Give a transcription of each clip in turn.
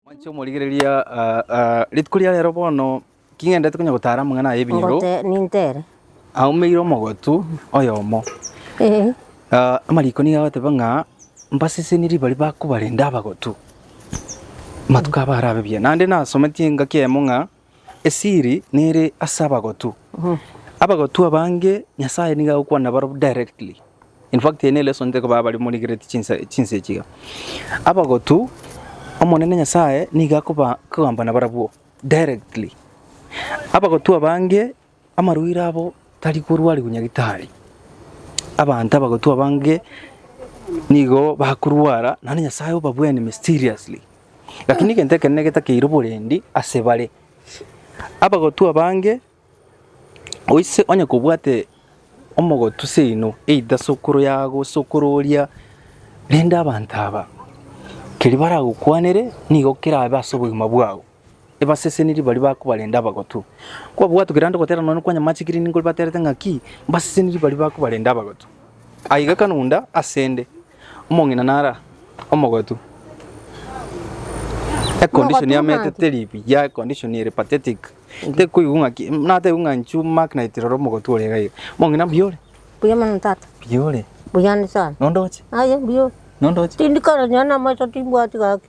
Mwanche omorigereria, rituko ria rero bono king'endete konya gotara amang'ana aya ebinyoro. Nintere. Aumeire omogotu oyomo. Amariko nigo agoteba ng'a mbasesenie ribari bakobarende abagotu. Matuko aba arabe buya. Naende nasometie engaki eyemo ng'a. Esiri nere ase abagotu. Abagotu abange Nyasaye nigo agokwana nabaro directly. In fact eye ne lesson nte koba abari morigereti chinsa chinsa echi iga. Abagotu Omonene Nyasaye nigo akoba akogamba nabarabwo directly. Abagotu abange. Amarwaire abo tari korwarigwa nyagetari. Abanto abagotwa abange nigo bakorwara naende Nyasae obabwene mysteriously. Lakini egento ekenene getakeire oborendi ase bare, abagotwa abange oise onye kobwate omogotu seino either sokoro yago, sokoro oria, rende abanto aba keri baragokwanere nigo kerabe ase obogima bwao. Ebasesenirie baria bakobarenda abagotu. Kwabwatokire ande gotera nonya kwanyamachekire nigo baterete ng'aki, mbasesenirie baria bakobarenda abagotu. Aiga Kanunda asende, omong'ina nara omogotu. E condition ya mete teri buya, e condition ere pathetic. Tekoigwa ng'aki, nateigwe ng'a nchu mark night rora omogotu ore iga iga. Omong'ina mbuya ore? Mbuya mono tata. Mbuya ore? Mbuya ande sana. Nondoche? Aye mbuya ore? Nondoche? Tindikora nonya namoisa timbwati gaki.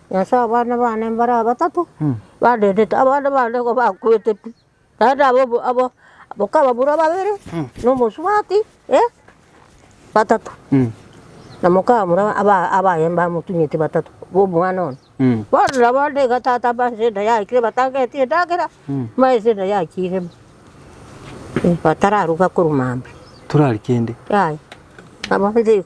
Ase abana bane mbare abatato badedete, abande bande nigo bakwete pi, naende aba aba abakabura babere na omosubati batato, na mokabura abaye mbamotunyete batato na omwana one. Bono nabo ande iga tata mbaise enda yaikire batangeti endagera, mbaise enda yaikire bo, batararuga korwa mambia. Torari kende. Yaya, nabo inche igo.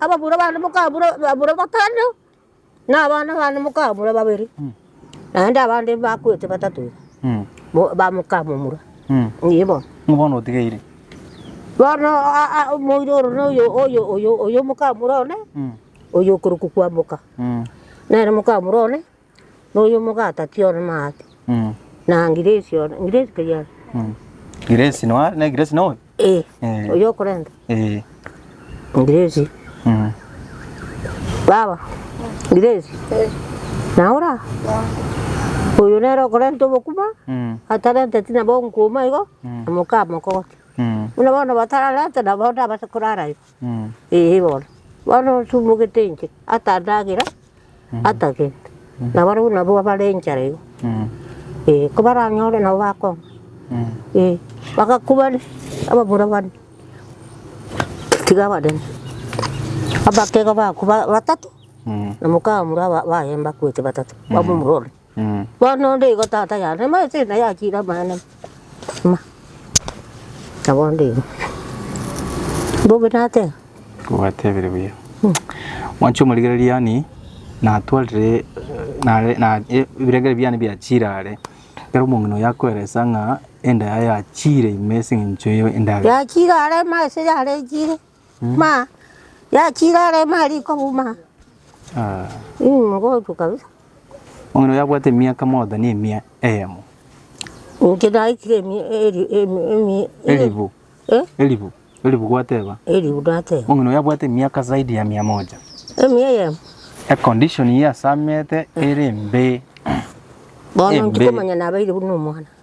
Ababura bane mokabura ababura batano, na abana bane mokabura babere, naende abande mbakwete batato iga, bo bamokamomura. Ee bono. Ng'o bono otigeire? Bono a- a- omoira oro na oyo oyo oyo oyo omokamura one, oyo okorokwa Kwamboka, nere mokamura one. na oyo omogati atiore maate, na ngiresi one, ngiresi keri are? Giresi noa ne giresi noe? Eh, Eh. oyo okorenta Eh. ngiresi. Mm. Baba, ngiresi, na ora oyo nere okorenta obokima, Mm. atarenteti nabo nkouma igo, na moka amokogoti. Mm. Buna bono batararente nabo ndabase korara igo. Ee bono, bono otumogete inche, ata endagera, ata gento. Na barabwo nabwo bare enchara iga, ee, kobaranyore nabo bakong'a. Ee, bagakubania abamura bane, tiga abanene, abakega bakwa batato, na mokamura baye mbakwete batato, bamomura one. Bono onde igo tata yane emesa eye naye achiire amaene ime. Na bonde igo. Mbobe nateba. Obatebire buya. Mwanche omorigereria yaani natwarire nare na e- ebirengererio biane biachiire are, ekero omong'ina oyo akoeresa ng'a enda yaye yachiire ime ase eng'encho ye- endagera. Yachiire are emesa yare echiire. Ma, yachire are emari kobuma. Immh, ngochwa kabisa. Omong'ina oyo abwate emiaka moda ne emia eyemo. Inche naikire emia eri emi emi Elifu. Eh? Elifu. Elifu gwateba. Elifu nateba. Omong'ina oyo abwate emiaka zaidi ya mia moja. Emia eyemo. Econdition ye asamete ere embe. Bono Embe. ndikomanya nabeire buna omwana.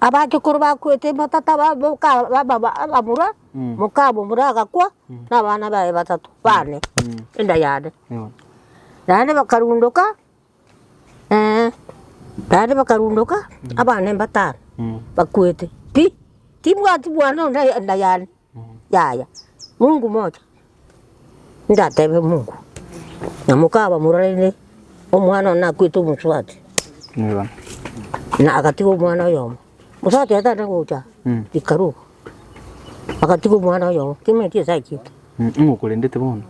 Abachukuru bakwete batata abamura, mokamomura agakwa na abana baye batato bane enda yane. Naende bakarundoka naende bakarundoka abana mbatano bakwete pi, timbwati bwane onde enda yane. Yaya, Mungu mocha. Ndatebe Mungu, na mokaba mororire omwana one nakwete omosubati. Nigo. Na agatiga omwana oyomo. Mosubati yatana gocha, Mm. ikaruga. Agatiga omwana oyomo, kimeti esachete. Mm, Ng'okorendete bono.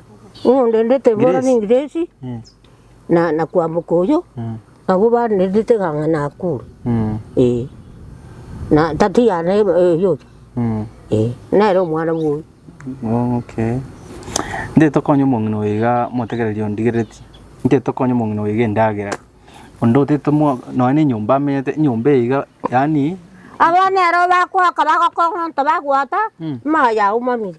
Ng'ondendete bono Grace. ningiresi, Mm. na na kwamboka oyo, Mm. Abwo barenete iga ng'a nakure, ee, na tati yane eyoria, ee, nere omwana bwoye. Okay. Nde tokonye omong'ina oyo iga motegereri ondigereti. Nde tokonye omong'ina oyo iga endagera. Onde otete mo nonya ne enyomba amenyete, enyomba eye iga yaani. Abwo nero bakoaka bagokong'onto bagwata, amaye aumamire.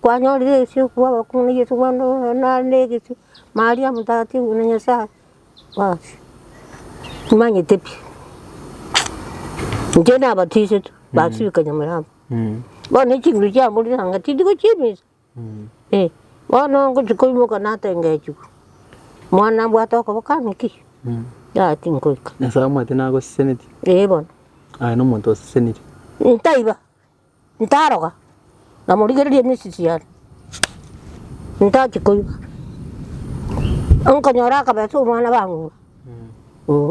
kwanyorire egesio okobua abakong'u na Yeso korende oyo nare na egesio, Maria mtakatifu buna Nyasaye, basi timanyete pi. Inche nabatisetwe basibeka Nyamirambo, bono echinguru chiamborire anga tindi gochia emisa, eh. Bono ngochia koimoka natengechigwa, mwana nabwate okoboko ang'e ki, yaya tingoika. Nyasaye omwete nagosesenetie? Eh bono. Aye nomonto oseseneti? Ntaiba, Ntaroga, namorigereria emisisii yane, ntachi koiba. Nkonyora akabesa omwana bang'ina,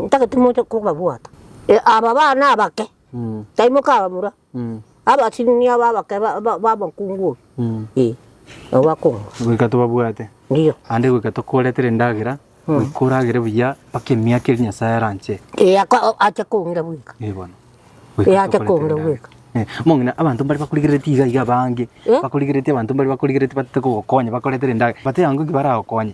ntagete moche kobabwata. Aba bana abake, taimoka abamura, abasibuni aba abake ba- ba- bamokungu oyo. Ee, nabo bakoong'wa. Goika tobabwate, Ndiyo. naende goika tokoretere endagera, goika oragere buya mpaka emiaka eria Nyasae aranche. Ee, ako- o- ache koong'ira bweka. Ee, bono. Ee, ache koong'ira bweka. Eh, mong'ina abanto mbare bakorigereretie iga iga abange, Eh? bakorigereretie abanto mbare bakorigereretie batete kogokonya bakoretere endagera, bateba ng'o ki baragokonye?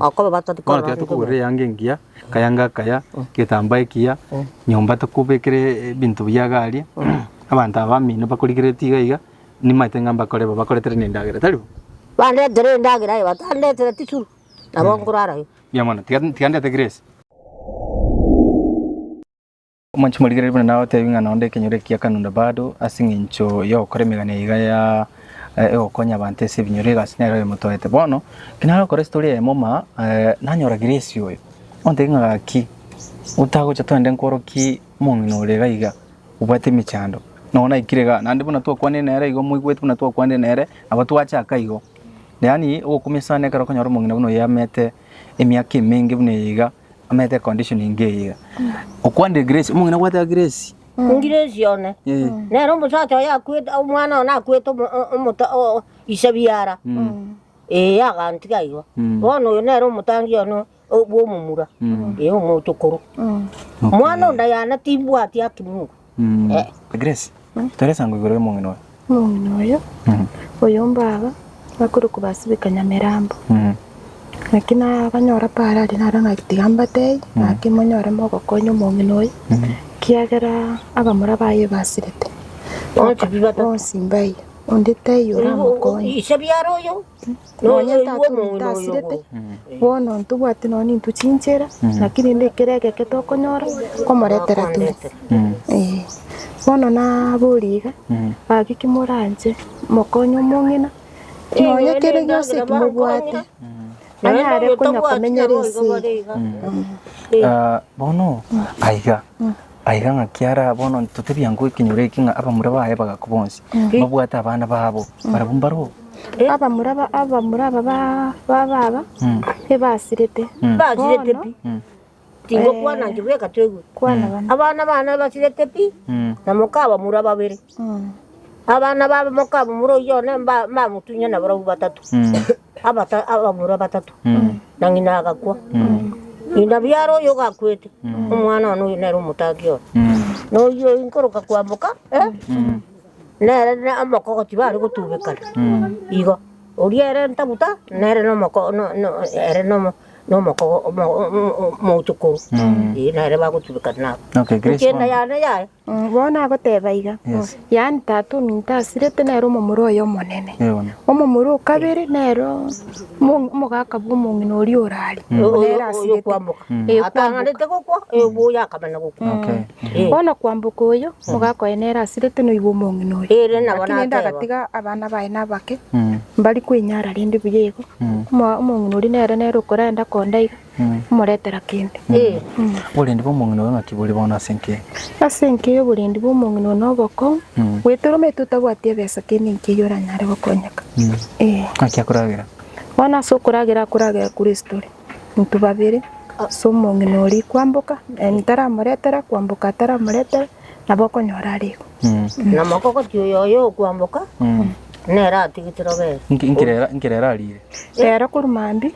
Okoba bato Bono tiga tikorora tokogorera eyanga engiya, akayanga akaya, egetambaa ekiya, nyomba tokobekera ebinto biya iga aria, abanto aba bamino bakorigeretie iga iga, nimanyete ng'a mbakore bo, bakoretere na endagera, tari bo? Bandetere endagera aye, batandetere tisuru, nabo nkorara aye. Mbuya mono, tiga tiga ndete grace. Omonche morigereria buna nagoteebia ng'a nonde ekenyoro ekiya kanunda bado ase eng'encho y'ogokora emegani eye iga ya egokonya abanto ase ebinyoro iga ase nero eyemotoete. Bono ekero nagokora estory eye moma nanyora Grace oyo ontebia ng'a gaki otagocha twende nkworokie omong'ina ore iga iga obwate emechando nabo naikire igaa naende buna twakwanire nere igo moigweti buna twakwanire nere nabo twachaka igo yaani ogokumia sana ekero okonyora omong'ina buna oyo amete. emiaka emenge buna eye iga amanyete condition enge eye iga. Okwande Grace, omong'ina gwateba Grace. Grace one. Eh. Nero omosacha oye akwete omwana one akwete omo- o- omoto o- ise biara. Eh yagantiga igo. Bono oyo nere omotangi one o- bw'omomura. Eh omochokoro. Mwana onde yane timbwati akimuru. Grace, tore esango igoro y'omong'ina oyo. Omong'ina oyo, oyo mbaba bakorokwa ba Sibika Nyamirambo. Naki nabanyora paaro aria naro ng'aki tiga mbatebie ng'aki monyore mogokonya omong'ina oyo, kiagera abamura baye basirete. Bonsi mbayi, onde taiyo oramokonye. Nonya tatu ninto asirete, bono ntobwati nonya ninto chinchera, naki rende ekero egeke tokonyora, komoretera tore. Ee. Bono naborie iga, gaki kimoranche mokonye omong'ina, nonya kere gionsi eki mobwate, anyare konya komenyera ense eye. Bono aiga. Aiga ng'a kiaraa bono ntotebia ngoo ekenyoro eke ng'a abamura baye bagaku bonsi babwate abana babo barabwo mbaroo. Abamura ba- abamura aba ba- ba baba Mm. ebasirete Mm. Basirete pi. Mm. Tingokwana inche bweka toigwe. kwana bana Abana bane basirete pi. Mm. Na moka abamura babere. Abana b'abamoka abamura oyio one mba- mbamotunyana abarabwo batato, abata- abamura batato, na ng'ina agakwa. Ng'ina biaro oyio gakwete, omwana one oyio nere omotaki one. Na oyio oyio nkoroka kwamoka, eh, nere ne omokogo tibare gotubekana, igo. Oria ere ntabuta, nere na omoko- no- no- ere na omo- na omokogo omo- o- o- omochokoru, eh, nere bagotubekana nabo. Okay, Grace Ekianda bono. yane yaye. Bono agoteba iga, Yes. yaani tata ominto asirete nere omomura oye omonene. Yego. Omomura o kabere nere omo- omogaka bw'omong'ina oria orare, oyo nere asirete. kwamboka Eh, atang'anete gokwa oyo akamana gokwa Okay. Eh. Bono kwamboka oyo, omogaka oye nere asirete noibwa omong'ina oyo. Ere nabo Lakini ende nateba. agatiga abana baye nabake, Mm. mbari kwenyara rende buya igo. Omo- Omong'ina oria nere nere okorenda konda iga, komoretera kende. Oborendi bw'omong'ina oyo ng'aki bore bono ase enki? Ase enki y'oborendi bw'omong'ina oyo noboko, goetera omanyete otabwati ebesa kende enki eyio oranyare gokonyeka. Ee. Ng'aki akoragera? Bono ase okoragera akoragera Kristo ore. Intwe babere, ase omong'ina oria kwamboka, yaani taramoretera, kwamboka ataramoretera, nabo okonyora are igo. Na mogogoti oyo oye okwamboka, nere atigetire obere. Inki, inki rero, inki rero arire? Rero korwa mambia.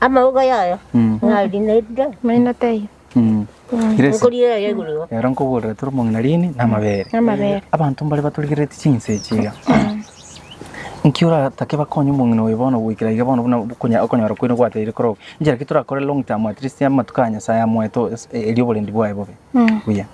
Amauga yaye narinairire Maino taiyo. Ere ase Nkori yaye igoro igo. ero nkoborera tore omong'ina riini na amabere. Amabere. Abanto mbare baturigerereti chinsa echi iga. Nki oratake bakonye omong'ina oyo bono goikera iga bono buna okonya- okonyora kwene gwateire korokwa? Inchera ki torakore long term at least amatuko a Nyasaye amoete o- es- e- erio oborendi bwaye bobe? Buya.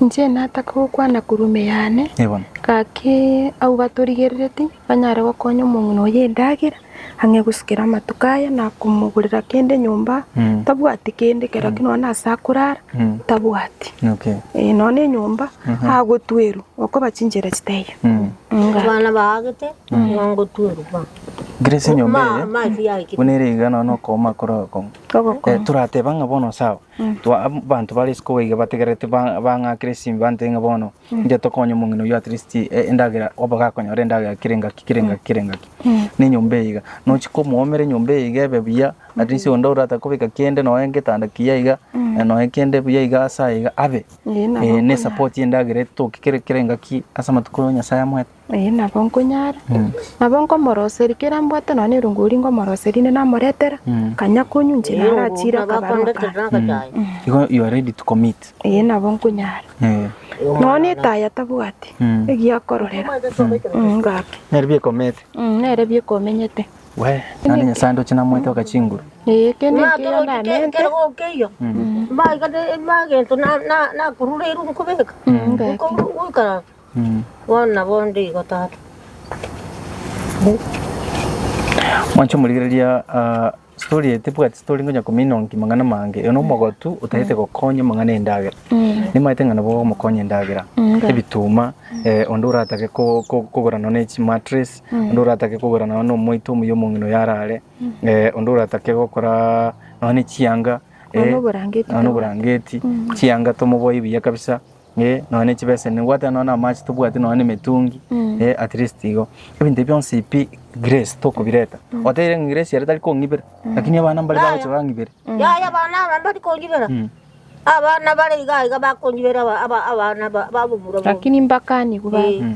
Inche nataka gokwana korwa ime yane, Ee bono. gaki abwo batorigerereti banyare gokonya omong'ina oyo endagera, ang'e gosikera amatuko aye na komogorera kende nyomba Mm. tabwati kende kero ki nonya ase akorara Mm. tabwati Okay. Eh, nonya enyomba agotwerwa okoba chinchera chitaiyo Mm. Nga. abana baagete nongotuerwa Grace enyomba Ma- eye mafi yaikire. buna ere iga nonya okooma korwa okong'u Ogoko. Eh, torateba ng'a bono sawa Twa- abanto bare isiko iga bategerete ba- bang'akere simba ntebe ng'a bono Inche tokonye omong'ina oyio at least eh, endagera obo gakonyora endagera kera engaki kera engaki kera engaki na enyomba eye iga nochi komoomera enyomba eye iga ebe buya at least onde orata kobeka kende noe getanda kiya iga eh, noe kende buya iga ase aya iga abe Ee, nabo Eh, ne okonya. support y'endagera etoke kere kera engaki ase amatuko Nyasae amoete Ee, nabo nkonyara. Nabo nkomoroseria, kera mbwate nonya erungu oria nkomoroseria inde namoretera, kanya konywa inche naro achiire akabarua kare. Igo you are ready to commit. Ee, nabo nkonyara. Eh. Nonya etayo atabwati, egiya akororera, mm, ngaki. Nere bikomete. Mm, nere bikomenyete. Wee, naende Nyasae ndoche namoete oka chinguru. Ee, kende ekiya ndamente, Bono nabondo igo, Tata. Mwanche omorigereria aa story eye tebwati story ngonya komina onki mang'ana mange oyo nomogotu otagete gokonya amang'ana endagera nimaete ng'a nabo ogomokonya endagera ebituma onde oratake kogora nonye ne chimatress onde oratake kogora nonye ne omoito omuya omong'ina oyo arare onde oratake gokora nonye ne chianga nonye ne oborangeti chianga tomoboe buya kabisa. eh, nonya ne chibeseni, nibwate nonya na amache, tobwati nonya na emetungi, eh, at least igo. Ebinto ebio bionsi pi grace tokobireta. Oteire ng'a grace ere tari kong'ibera, lakini abana mbare bagocha bang'ibere. Yaya abana aba mbari konyibera Mm. abana bare iga iga bakonyibera aba- aba- abana ba- babomura bo lakini mbakanigwe Eh. baba.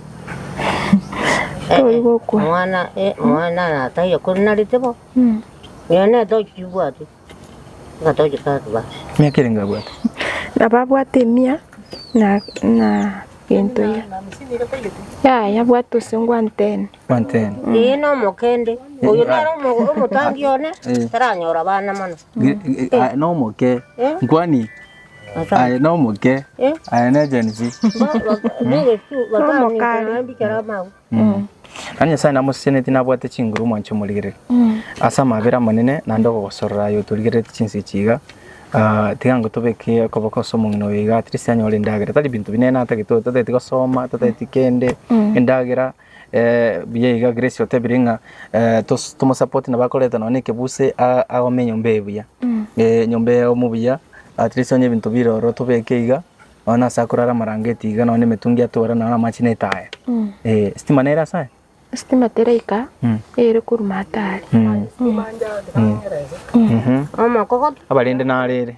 Tori gokwa. Omwana eh, omwana nataiyo kuri narete bo. Nyo netochi chibwati. Ngatochi kati basi. Miaka ere ngabwate. Nababwate emia na na gento ya. Ya yabwate ose ngwantene. Wantene. Eye no mokende. Oyo naro omo- omotangi one. Eh. Taranyora bana mono. Ge- ge- ah, Nomoke. Eh? Nkwani Aye nomoke. Aye ne Gen Z. Naki Nyasae namosisianetie nabwate chinguru omwanche omorigereria. Ase amabera amanene naende ogogosorora aye otorigereretie chinsa echi iga, tiga ngotobeke okoboko ase omong'ina oyo iga at least anyore endagera. Tari binto binene atagete oyo, totageti gosoma, totageti kende, endagera. Buya iga Grace otebire ng'a tomosapote nabo akoreta nonye na ekebuse agome enyomba eye buya, enyomba eye egome buya at least onye ebinto bire ororo tobeke iga nonye na ase akorara amarangeti iga nonye na emetungi atore nonye na amache na etaya. Estima nere ase aya? Estima teraika eyo ere korwa matari. Abarende naro ere?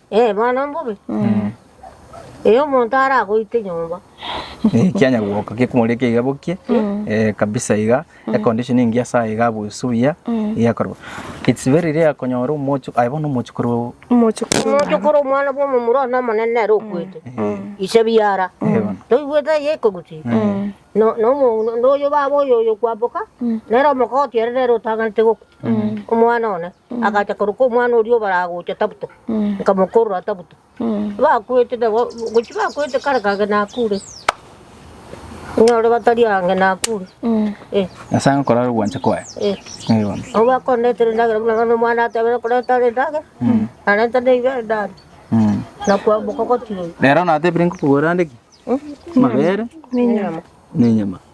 Eh, bono mbobe. Eh, omonto aragoite nyomba. Eh, kianya gwoka gekumori eke iga bokie eh, kabisa iga econdition engiya sa iga abusu buya iga korwa it's very rare konyora omochu aye bono omochu korwa Omochukuru. Omonto kore omwana bw'omomura one omonene nere okwete. Ise biara. Ego. Toigwete eye ekoguti. No no no oyo baba oyo oyo kwamboka. Nere omokoti ere nere otaganete goku. Omwana one agacha korwa kw'omwana oria obaragocha Tabuta, nkamokorora Tabuta. Bakwete nabo, gochia bakwete kare kage nakure. Nyore batari ange nakure. Eh. Nyasae akorore ogwancha kwaye. Eh. Eh, bono. Nabo bakondetera endagera buna bono omwana atebire korenta are endagera, narenta neibere ndaria, Mm. nakwamboka gotiga oyo. Rero natebire nkokogorera nde ki? Amabere Nenyama. nenyama.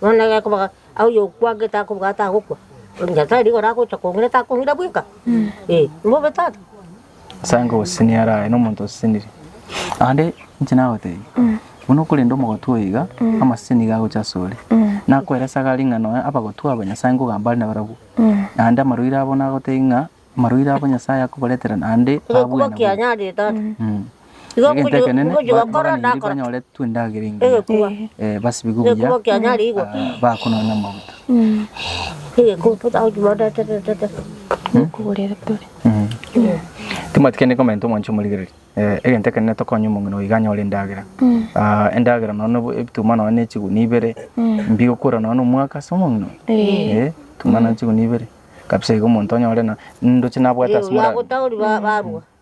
Nonya gekoba oyokwanete akobwate agokwa, Nyasae rigoro agocha kong'ira takong'ira bweka? Ee, mbobe tata. Nyasae nkogosesenia ere aye nomonto osesenirie. Naende inche nagotebia, buna okorenda omogotu oyo iga, amasese nigo agocha asore. Nakoeresa gari ng'a nonya abagotwa aba Nyasae nkogamba are nabarabwo, naende amarwaire abo nagotebia ng'a. Amarwaire abo Nyasae akobaretera naende abwene bobe. Mh. Egento ekenene, ba- baganeirie banyoretwe endagera engiya, Egekuba. eh, basibigwe buya, Egekuba kianyare igwa. ah, bakononya amaguta. Mh. Timothy kende comment omwanche omorigereria. Eh, egento ekenene tokonye omong'ina oyo iga anyore endagera. Ah, endagera nonya nobo- ebituma nonya ne chigunia ibere, mbigokora nonya na omwaka ase omong'ina oyo. Eh, ebituma nonya chigunia ibere. Kabisa igo omonto onye ore na ndoche nabwate ase mora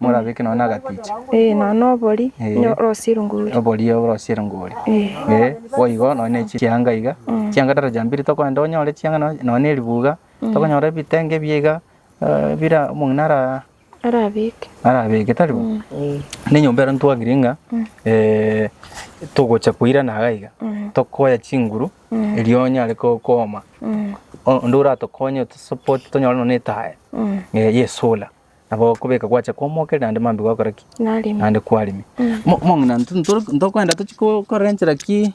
morabeke nonye na agaticha. Ee, nonye na obori, Ee. onye orosie erongori. Obori orosie erongori. Ee. Ee, boigo nonye ne chianga iga. Chianga daraja mbiri tokogenda onyore chianga nonye nonye na eribuga, tokonyora ebitenge ebiya iga, eh, bire omong'ina ara. arabeke tari bo? Nenyomba ero ntwagire ng'a togocha koirana iga iga, tokoya chinguru erio onyare kooma, onde oratokonye otosupport tonyore nonya etaya ya esolar nabo okobeka gwacha komokia naende mambia gwakora ki? Naende kwaremia. Bono intwe ntokogenda tochie korenta ki?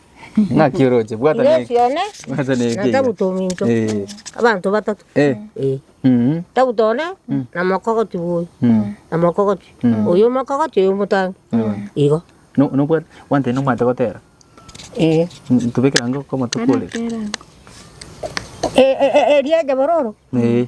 Ng'aki oroche, bwata Yesu neke. one Bwata neke. na Tabuto ominto. Eh. Abanto batato. Eh. Eh. Mhm. Tabuto one na mokogoti bwoyi. Mm. Na mokogoti. Oyo omokogoti oyo omotangi. Igo. No, no bwate, one time nomate gotera. Eh. Ntubekera ngo kwa matuko ore. Eh, eh, eh, eria ejabororo. Eh.